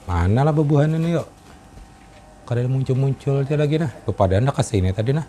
Mana lah bebuhan ini yo, kada muncul-muncul ja lagi nah, bepadah handak ka sini tadi nah.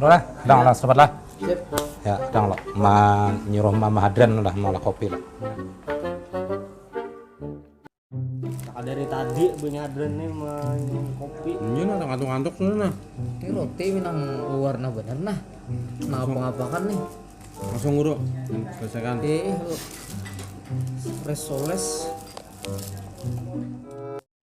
Udah lah, dang lah, sedapat lah. Ya, dang lah. Ma nyuruh mama hadran lah, maulah kopi lah. Nah, dari tadi bunyi hadran nih ma nyuruh kopi. Ini nah, ngantuk-ngantuk sudah nah. Ini roti minang warna bener nah. Nah, apa-apakan nih. Langsung guru, selesaikan. Eh, eh, resoles.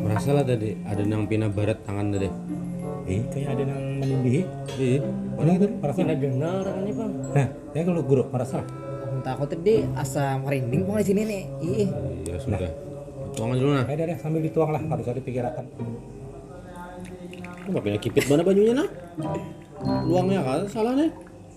Merasa lah tadi ada nang pina barat tangan tadi. Eh, kayak ada nang menindihi. Iya, mana itu? Merasa. Pina dengar ini bang. Nah, kayak kalau guru merasa. Entah aku tadi asa merinding pun di sini nih. Ih. Ya sudah. Nah. Tuang dulu nah. Ada deh sambil dituang lah, harus ada pikirakan. Apa pina kipit mana banyunya nah? Luangnya kan salah nih.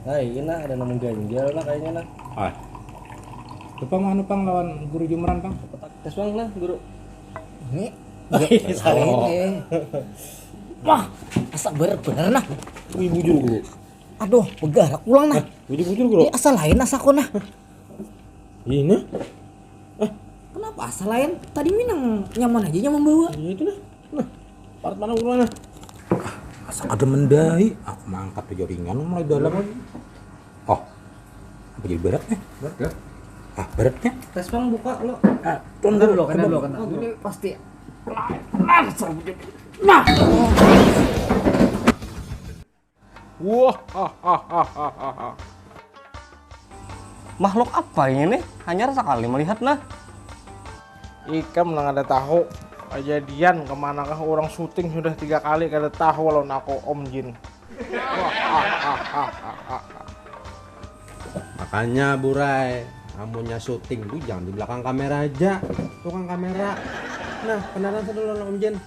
Nah, iya nah ada nemu ganjal nah kayaknya nah. Ah. Lupa mah anu pang lawan guru jumran pang. Petak tes pang nah guru. Ini. Salah oh. ini. Wah, asa ber bener nah. Wih bujur guru. Aduh, pegarak pulang nah. Bujur bujur guru. Ini asa lain asa kok nah. Ini. Ah. Kenapa asa lain? Tadi minang nyaman aja nyaman bawa. Iya itu nah. Nah, parat mana urang nah. Asa kada mendai. Aku ah, mangkat aja ringan mulai dalam. Oh. Apa jadi berat nih? Berat ya? Ah, beratnya. Tes pang buka lo. Ah, tuan dulu, kena dulu, kena. Ini pasti. Nah, nah. Makhluk apa ini nih, hanyar sakali melihat nah. Ikam nang kada tahu, kajadian kemanakah urang syuting sudah tiga kali kada tahu lawan aku Om Jin. Makanya Burai, amunnya syuting tu jangan di belakang kamera haja, tukang kamera. Nah, kenalan sudah lawan Om Jin.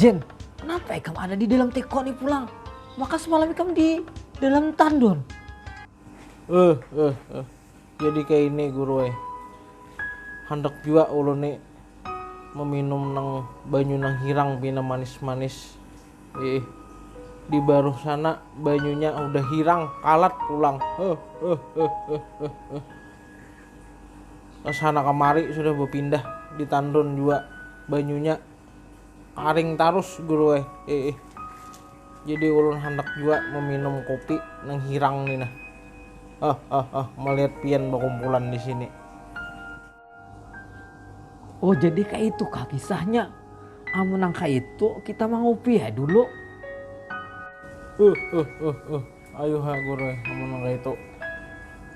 Jen, kenapa ikam ada di dalam teko ni pulang? Maka semalam ikam di dalam tandon. Eh, eh, eh. Jadi kayak ini guru eh. Handak juga ulun ni meminum nang banyu nang hirang pina manis-manis. Eh, di baruh sana banyunya udah hirang, kalat pulang. Eh, eh, eh, eh, eh. Kesana kemari sudah bepindah di Tanrun jua banyunya karing tarus guru ai iih. Jadi ulun handak jua meminum kopi nang hirang ni nah heheheh melihat pian bakumpulan di sini. Oh jadi kaitu kah kisahnya, amun nang kaitu kita mangupi ya dulu. Huhhuhhuhhuh. Ayuh ha guru ai amun nang kaya itu.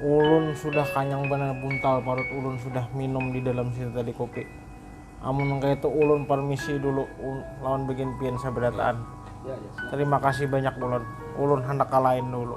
Ulun sudah kanyang banar buntal parut ulun sudah minum di dalam situ tadi kopi. Amun nang kaya itu ulun parmisi dulu lawan bagian pian sabarataan. Tarima kasih banyak ulun. Ulun handak ka lain dulu.